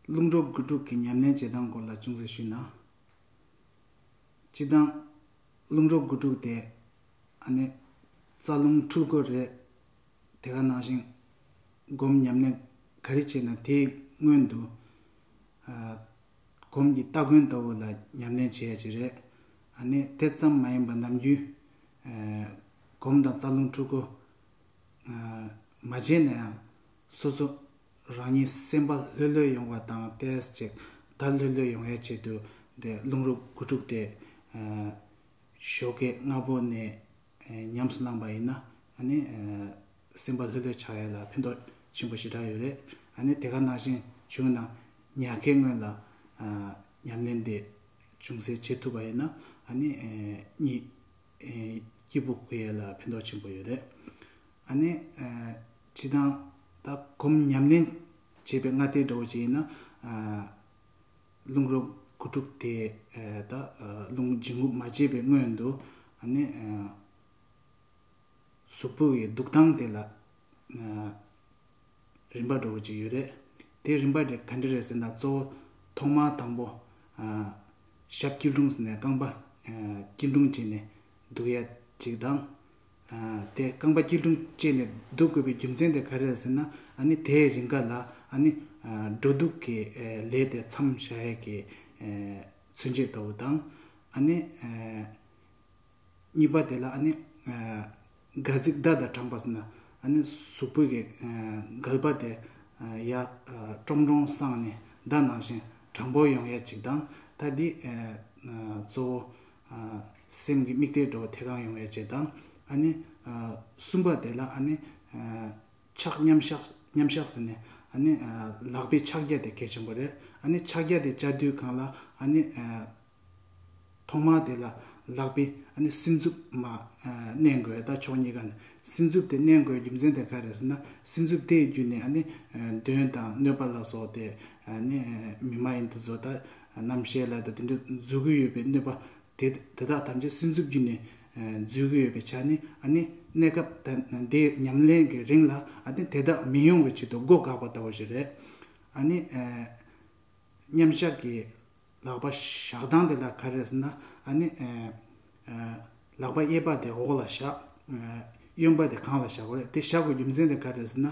རླུང་འགྲོ་སྒུལ་འགྲོ་གི་ཉམས་ལེན་བྱེད་སྟངས་སྐོར་ལ་ཅུང་ཟད་ཞུས་ན། སྤྱི་བཏང། རླུང་རོ་དགུ་དྲུག་དེ་ཨ་ནི་རྩ་རླུང་འཁྲུལ་སྐོར་རེད། དེ་ག་ནང་བཞིན་སྒོམ་ཉམས་ལེན་ག་རེ་བྱས་ན་དེའི་སྔོན་དུ། གོམས་ཀྱི་སྟ་གོན་ལྟ་བུ་ལ་ཉམས་ལེན་བྱེད་ཡ་གྱི་རེད། ཨ་ནི་དེ་ཙམ་མ་ཡིན་པ་ནམ་རྒྱུན། སྒོམ་དང་རྩ་རླུང་འཁྲུལ་སྐོར། མ་བྱས་ན་ཡང། སོ་སོ་རང་ཉིད་སེམས་པ་ལྷོད་ལྷོད་ཡོང་བ་དང་བལྟས་ཅིག་ད་ལྷོད་ལྷོད་ཡོང་ཡས་བྱེད་དུས་དེ་རླུང་རོ་དགུ་དཀྲུགས་ཏེ་ཞོ་ཁའི་རྔ་བོ་ནས་ཉམས་སུ་བླངས་པ་ཡིན་ན་ནི་སེམས་པ་ལྷོད་ལྷོད་ཆགས་ཡས་ལ་ཕན་ཐོགས་ཆེན་པོ་ཞེ་དྲག་ཡོད་རེད་ནི་དེ་ག་ནང་བཞིན་བྱུང་ན་ཉག་ཁའི་སྔོན་ལ་ཉམས་ལེན་དེ་ཅུང་ཟད་བྱེད་ཐུབ་པ་ཡིན་ན་ནི་གཉིད་སྐྱིད་པོ་འགུ་ཡས་ལ་ཕན་ཐོགས་ཆེན་པོ་ཡོད་རེད། ཨ་ནེ། བྲིས་དང། ད་གོམ་ཉམས་ལེན། བྱས་པའི་སྔ་ལྟས་འདྲ་བོ་བྱས་ཡིན་ན། རླུང་རོ་དགུ་དྲུག་དེ། ད་རླུང་སྦྱིན་རྔུབ་མ་བྱས་པའི་སྔོན་དུ། ཨ་ནེ། གཟུགས་པོ་ཡི་འདུག་སྟངས་དེ་ལ། རིམ་པ་འདྲ་བོ་ཅིག་ཡོད་རེད། དེ་རིམ་པ་དེ་ག་འདྲ་རེད་ཟེར་ན་གཙོ་བོ། ཐོག་མར་དང་པོ། ཞབས་སྐྱིལ་ཀྲུང་ཟེར་ནས་རྐང་པ། སྐྱིལ་ཀྲུང་བྱས་ནས་འདུག་ཡ་གཅིག་དང། དེས་རྐང་པ་སྐྱིལ་ཀྲུང་བཅས་ནས་འདུག་དགོས་པའི་རྒྱུ་མཚན་དེ་ག་རེ་རེད་ཟེར་ན་ནི་དེའི་རིང་ག་ལ་ནི་འགྲོ་འདུག་གི་ལས་དེ་མཚམས་བཞག་ཡས་ཀྱི་མཚོན་བྱེད་ལྟ་བུ་དང། གཉིས་པ་དེ་ལ་ནི་སྒལ་ཚིགས་བརྡ་དང་དྲངས་པ་ཟེར་ན་ནི་གཟུགས་པོད་ཀྱི་སྒལ་པ་དེ་ཡར་ཀྲོང་ཀྲོང་བསྲངས་ནས་བརྡ་ནང་བཞིན་དྲང་པོར་ཡོང་ཡས་ཅིག་དང། ད་འདིས་གཙོ་བོ། སེམས་ཀྱི་དམིགས་གཏད་འགྲོ་བ་དེ་གང་ཡོང་བའི་རྗེས་དང། གསུམ་པ་དེ་ལ། ཕྱག་མཉམ་གཞག་ཟེར་ནས། ལག་པའི་ཕྱག་རྒྱ་དེ་གལ་ཆེན་པོ་རེད། ཕྱག་རྒྱ་དེ་བཅའ་དུས་གང་ལ། ཐོག་མར་དེ་ལ་ལག་པའི་སྲིན་མཛུབ་མ་མནན་དགོས་ད་ཕྱོགས་གཉིས་ཀ་ནས། སྲིན་མཛུབ་དེ་མནན་དགོས་རྒྱུ་མཚན་དེ་ག་རེད་ཟེར་ན། སྲིན་མཛུབ་དེའི་བརྒྱུད་ནས་གདོན་དང་གནོད་པ་ལ་སོགས་དེ་མི་མ་ཡིན་དུ་བཟོ་ད་རྣམ་བཤད་ལ་དེ་འདྲ་བརྫུ་གི་ཡོད་པའི་གནོད་པ་དེ་དེ་དག་ཐམས་ཅད་སེམས་འཚུབ་རྒྱུ་ནས་བརྫུས་གི་ཡོད་པའི་ཆ་ནས་ཨ་ནི་གནས་སྐབས་ད་ལྟའི་ཉམས་ལེན་གྱི་རིང་ལ་ཨ་ནི་དེ་དག་མི་ཡོང་བའི་ཆེད་དུ་སྒོ་བགགས་པ་ལྟ་བུ་ཞིག་རེད། ཨ་ནི། མཉམ་བཞག་གི་ལག་པ་བཞག་སྟངས་དེ་ལ་ག་རེ་ཟེར་ན་ཨ་ནི། ལག་པ་གཡས་པ་དེ་འོག་ལ་བཞག་གཡོན་པ་དེ་གང་ལ་བཞག་པ་རེད་དེ་བཞག་པའི་རྒྱུ་མཚན་དེ་ག་རེ་ཟེར་ན།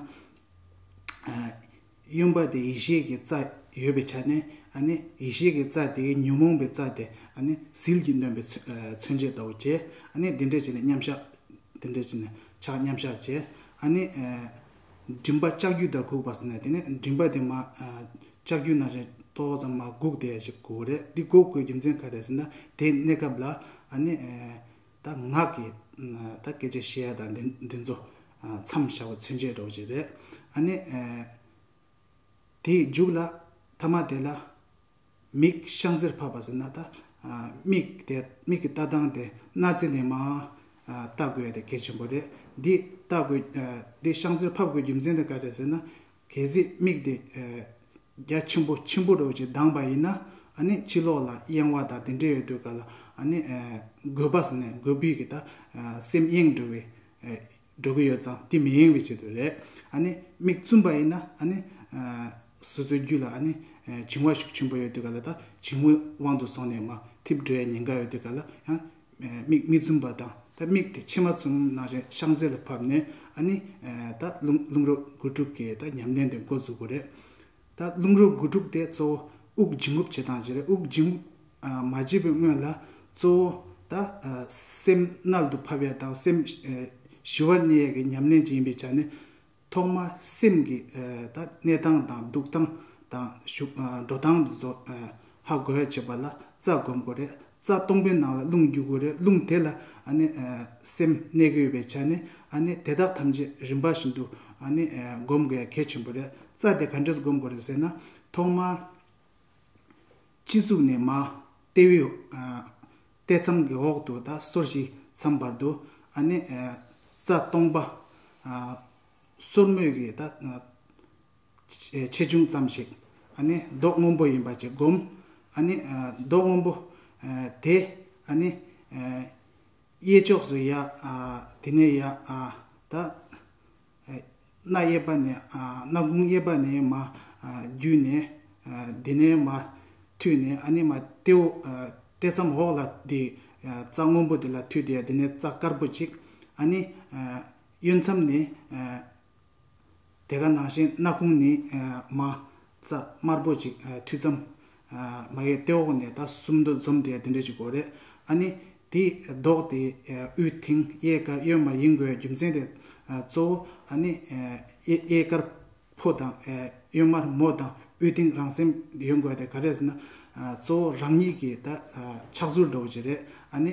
གཡོན་པ་དེ་ཡེ་ཤེས་ཀྱི་རྩ་ཡོད་པའི་ཆ་ནས་ཡེ་ཤེས་ཀྱི་རྩ་དེའི་ཉོན་མོངས་པའི་རྩ་དེ་ཟིལ་གྱིས་གནོན་པའི་མཚོན་བྱེད་ལྟ་བུ་བྱས། དེ་འདྲས་བྱས་ནས་མཉམ་བཞག་དེ་འདྲས་བྱས་ནས་ཕྱག་མཉམ་བཞག་བྱས། མགྲིན་པ་ལྕགས་ཀྱུས་ལྟར་གུག་པ་ཟེར་ནས་དེ་ནས་མགྲིན་པ་དེ་མ་ལྕགས་ཀྱུ་ནང་བཞིན་ཏོག་ཙམ་མ་གུག་དེ་ཞིག་གུག་རེད་འདི་གུག་དགོས་རྒྱུ་མཚན་ག་རེད་ཟེར་ན་དེའི་གནས་སྐབས་ལ། ད་ངག་གི་ད་སྐད་ཅིག་ཤེས་ཡ་དང་འདི་ཚོ་མཚམས་བཞག་པ་མཚོན་བྱེད་འགྲོགས་བྱེད་རེད་ཨ་ནི། དེ་འཇུག་ལ་ཐ་མ་དེ་ལ་མིག་ཤང་ཟིར་ཕབ་པ་ཟེར་ན་ད་མིག་དེ་མིག་གི་ལྟ་སྟངས་དེ་སྣ་རྩེ་ནས་མ་ལྟ་དགོས་དེ་གལ་ཆེན་པོ་རེད་འདི་ལྟ་དགོས་འདི་ཤང་ཟིར་ཕབ་དགོས་རྒྱུ་མཚན་དེ་ག་རེད་ཟེར་ན་གལ་སྲིད་དམིགས་དེ། རྒྱ་ཆེན་པོ་ཆེན་པོ་རོལ་ཅིག་གདངས་པ་ཡིན་ན། ནི་ཕྱི་ལོགས་ལ་གཡེང་བ་དང་དེ་འདྲས་ཡོད་དུས་ག་ལ། ནི། རྒོད་པ། ནི་རྒོད་པའི་གི་ད། སེམས་གཡེང་འགྲོ་བའི། འགྲོ་གི་ཡོད་ཙང་དེ་མི་གཡེང་བའི་ཆེད་དུ་རེད། ནི། དམིགས་བཙུན་པ་ཡིན་ན། ནི། སོ་སོའི་རྒྱུད་ལ། ནི། བྱིང་བ་ཤུགས་ཆེན་པོ་ཡོད་དུས་ག་ལ་ད། བྱིང་བའི་དབང་དུ་སོང་ནས་མ། ཐིབས་འགྲོ་ཡ་ཉེན་ཁ་ཡོད་དུས་ག་ལ། ཡང། མིག་མི་འཛུམ་པ་དང་ད་མིག་དེ་ཕྱི་མ་བཙུམ་ན་རེ་ཤག་མཛེ་ལ་ཕབ་ནས་ཨ་ནི་ད་རླུང་རོ་དགུ་དྲུག་གིས་ད་ཉམས་ལྡན་དེ་འགོ་འཛུགས་དགོས་རེད། ད་རླུང་རོ་དགུ་དྲུག་དེ་གཙོ་བོ་དབུགས་འབྱིན་རྔུབ་བྱེད་སྟངས་ཅིག་རེད་དབུགས་འབྱིན་རྔུབ་མ་བྱེད་པའི་སྔོན་ལ་གཙོ་བོ་ད་སེམས་རྣལ་དུ་ཕབ་ཡས་དང་སེམས་ཞི་བར་གནས་ཡས་ཀྱི་ཉམས་ལེན་ཅིག་ཡིན་པའི་ཆ་ནས་ཐོག་མར་སེམས་ཀྱི་གནས་སྟངས་དང་འདུག་སྟངས་དང་འགྲོ་སྟངས་ཧ་གོ་བའི་བྱེད་པ་ལ་རྩ་བསྒོམ་དགོས་རེད་རྩ་སྟོང་པའི་ནང་ལ་རླུང་རྒྱུ་དགོས་རེད་རླུང་དེ་ལ་སེམས་གནས་གི་ཡོད་པའི་ཆ་ནས་དེ་དག་ཐམས་ཅད་རིམ་པ་བཞིན་དུ་བསྒོམ་དགོས་གལ་ཆེན་པོ་རེད་རྩ་དེ་ག་འདྲས་བསྒོམ་དགོས་རེད་ཟེར་ན་ཐོག་མར། སྤྱི་གཙུག་ནས་མ་ལྟེ་བའི་ལྟས་མཚམས་ཀྱི་འོག་ཏུ་ད་སོར་ཞིག་མཚམས་བར་དུ་ཨ་ནི། རྩ་སྟོང་པ། སོར་མོས་ཀྱི་ད། ཆེ་ཆུང་ཙམ་ཞིག་ཨ་ནི། རྡོག་སྔོན་པོ་ཡིན་པ་ཅིག་བསྒོམ། ཨ་ནི། རྡོག་སྔོན་པོ། དེ། ཨ་ནི། གཡས་ཕྱོགས་སུ་ཡ། དེ་ནས་ཡ། ད། སྣ་གཡས་པ་ནས་སྣ་དགུང་གཡས་པ་ནས་མ། བརྒྱུད་ནས་དེ་ནས་མ། མཐུད་ནས་ཨ་ནི་མ། ཏེའུ། ལྟེ་མཚམས་འོག་ལ་དེ། རྩ་སྔོན་པོ་དེ་ལ་མཐུད་དེ་དེ་ནས་རྩ་དཀར་པོ་གཅིག། ཨ་ནི། གཡོན་མཚམས་ནས། དེ་ག་ནང་བཞིན་སྣ་དགུང་ནས་མ། རྩ་དམར་པོ་གཅིག་མཐུད་མཚམས། མ་གའི་ལྟེ་འོག་ནས་ད་གསུམ་འདུ་འཛོམས་དེ་དེ་འདྲའི་ཅིག་གོ་རེད་ཨ་ནི། དེ་ལྡོག་སྟེ་དབུས་མཐིང་གཡས་དཀར་གཡོན་མར་ཡིན་དགོས་རྒྱུ་མཚན་དེ་གཙོ་བོ་ཨ་ནི། གཡས་དཀར་ཕོ་དང་གཡོན་མར་མོ་དང་དབུས་མཐིང་རང་སེམས་ཡོད་དགོས་དེ་ག་རེ་ཟེར་ན། གཙོ་བོ་རང་ཉིད་ཀྱི་ད་ཕྱག་ཚུལ་འདྲ་བོ་ཅིག་རེད་ཨ་ནི།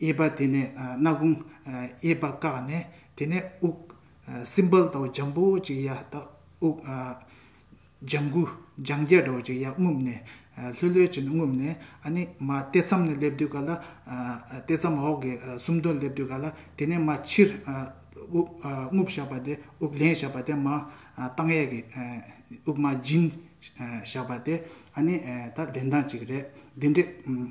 གཡས་པ་དེ་ནས་སྣ་དགུང། གཡས་པ་བཀག་ནས་དེ་ནས་དབུགས། སྲིན་བལ་དང་འཇམ་པོ་ཅིག་ཡ་དག་དབུགས། ལྗང་གུ་ལྗང་སྐྱ་འདྲ་བོ་ཅིག་ཡ་རྔུབས་ནས། ལྷོད་ལྷོད་ཅིག་རྔུབས་ནས་ཨ་ནི་མ་ལྟེ་མཚམས་ནས་སླེབས་དུས་ག་ལ། ལྟེ་མཚམས་འོག་གི་སུམ་དོན་སླེབས་དུས་ག་ལ་དེ་ནས་མ་ཕྱིར། དབུགས་རྔུབས་བཞག་པ་དེ་དབུགས་ལེན་བཞག་པ་དེ་མ། བཏང་གཡས་ཀྱི་དབུགས་མ་སྦྱིན་བཞག་པ་དེ་ཨ་ནི་ད་ལེན་སྟངས་ཅིག་རེད་འདི་འདྲས།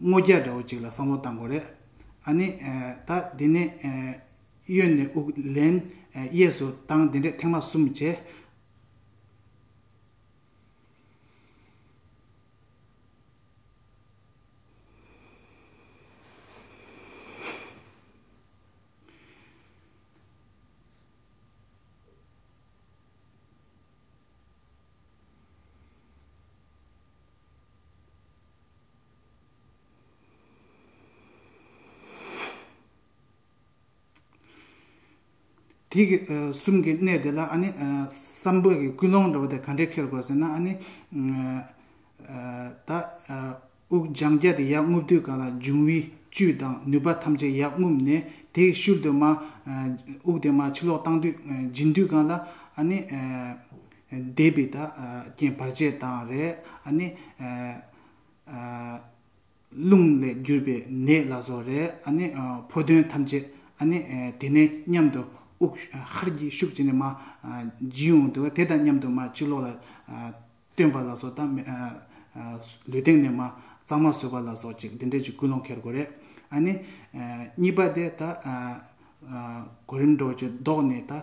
སྔོ་སྐྱ་འདྲ་བོ་ཅིག་ལ་བསམ་བློ་བཏང་དགོས་རེད། ཨ་ནི། ད་འདི་ནས། གཡོན་ནས་དབུགས་ལེན། གཡས་སུ་བཏང་དེ་འདྲས་ཐེངས་མ་གསུམ་བྱས། དེ་གི་གསུམ་གི་གནས་དེ་ལ་ཨ་ནི་བསམ་བོད་ཀྱི་ཀུན་སློང་འདྲ་བོ་དེ་ག་འདྲས་ཁེལ་དགོས་ཟེར་ན་ཨ་ནི། ད་དབུགས་སྦྱང་བརྒྱ་དེ་ཡར་རྔུབ་དུས་གང་ལ་འབྱུང་བའི་བཅུད་དང་ནུས་པ་ཐམས་ཅད་ཡར་རྔུབ་ནས་དེ་ཡི་ཤུལ་དུ་མ་དབུགས་དེ་མ་ཕྱི་ལོག་བཏང་དུས་འབྱིན་དུས་གང་ལ་ཨ་ནི། བཟླས་པའི་དག་རྐྱེན་བར་ཆད་དང་རེག་ཨ་ནི། རླུང་ལས་གྱུར་པའི་ནད་ལ་སོགས་རེག་ཨ་ནི། ཕོ་དོན་ཐམས་ཅད་ཨ་ནི། དེ་ནས་མཉམ་དུ་དབུགས་ཧར་གྱིས་ཤུགས་བྱས་ནས་མ། སྦྱིན་འོང་དུ་དེ་དང་མཉམ་དུ་མ་ཕྱི་ལོགས་ལ། སྟོན་པ་ལ་སོགས་དང། ལུས་སྟེང་ནས་མ་གཙང་མ་སོས་པ་ལ་སོགས་ཅིག་འདི་འདྲས་ཀྱི་ཀུན་སློང་ཁྱེར་དགོས་རེག་ཨ་ནི། གཉིས་པ་དེ་དག། གོ་རིམས་འགྲོ་བྱེད་བཟློག་ནས་དག།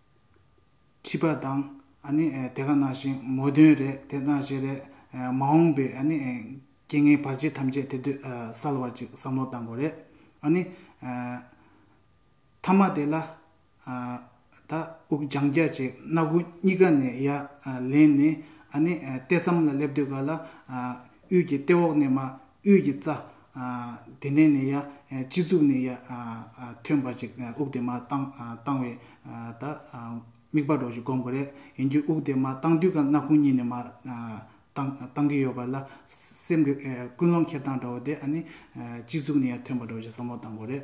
ཁྲིད་པ་དང། དེ་ག་ནང་བཞིན་མོ་དོན་རེད་དེ་གནང་བཞིན་རེད། མ་འོངས་པའི་རྐྱེན་ངན་བར་ཆད་ཐམས་ཅད་དེ་དུས་སེལ་བར་ཅིག་བསམ་བློ་གཏང་དགོས་རེད། མཐའ་མ་དེ་ལ། ད་དབུགས་འབྱང་རྒྱ་བྱས་སྣ་སྒོ་གཉིས་ཀ་ནས་ཡར་ལེན་ནས། ལྟེ་མཚམས་ལ་སླེབས་དུས་ག་ལ། དབུས་ཀྱི་ལྟེ་འོག་ནས་མ་དབུས་ཀྱི་རྩ། དེ་ནས་ནི་ཡ། སྤྱི་གཙུག་ནི་ཡ། ཐོན་འབར་ཅིག་དབུགས་དེ་མ་བཏང། བཏང་བས། ད། དམིགས་པ་རོ་ཞིག་བསྒོམ་དགོས་རེད། ཡིན་རྒྱུ་དབུགས་དེ་མ་བཏང་དུས་ཀ་སྣ་ཁུང་གཉིས་ནི་མ། བཏང་གི་ཡོད་པ་ལ། སེམས་ཀྱི། ཀུན་སློང་ཁེབས་སྟངས་འདྲ་བོ་དེ་ཨ་ནི། སྤྱི་གཙུག་ནི་ཡ་ཐོན་འབར་རོ་ཞིག་བསམ་བློ་བཏང་དགོས་རེད།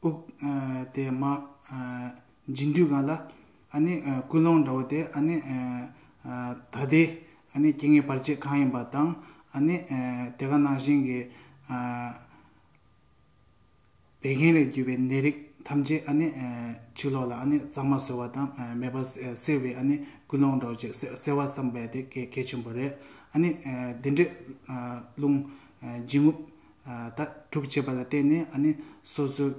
དབུགས། དེ་མ། འབྱིན་དུས་གང་ལ། ཨ་ནི། ཀུན་སློང་འདྲ་བོ་དེ་ཨ་ནི། ད་ལྟའི། ཨ་ནི་སྐྱེ་ངེས་བར་ཆད་གང་ཡིན་པ་དང། ཨ་ནི། དེ་ག་ནང་བཞིན་གྱི། བད་ཀན་ལས་གྱུར་པའི་ནད་རིགས་ཐམས་ཅད་ཨ་ནི། ཕྱི་ལོགས་ལ་ཨ་ནི་གཙང་མ་བཟོ་བ་དང་མེད་པ་སེལ་བའི་ཨ་ནི་ཀུན་སློང་འདྲ་བོ་ཅིག་སེལ་བ་བསམ་པས་དེ་གལ་ཆེན་པོ་རེད། ཨ་ནི། དེ་འདྲའི། རླུང། འབྱིན་རྔུབ། དག་སྒྲུབ་བྱེད་པ་ལ་བརྟེན་ནས་སོ་སོའི་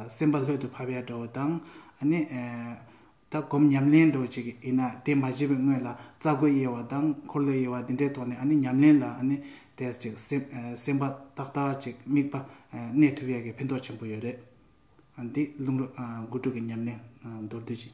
སེམས་པ་ལྷོད་དུ་བབས་ཡར་འགྲོ་བ་དང། སྒོམ་ཉམས་ལེན་འགྲོ་བྱེད་ཀྱི་ཡིན་ན་དེ་མ་བྱས་པའི་སྔོན་ལ་རྩ་སྒོ་དབྱེ་བ་དང་འཁོར་ལོ་དབྱེ་བ་འདི་འདྲའི་ཐོག་ནས་ཉམས་ལེན་ལ་སེམས་པ་ཏག་ཏག་ཅིག་དམིགས་པ་གནས་ཐུབ་ཡག་གི་ཕན་ཐོགས་ཆེན་པོ་ཡོད་རེད། འདི་རླུང་རོ་དགུ་དྲུག་གི་ཉམས་ལེན་མདོར་བསྡུས་ཅན།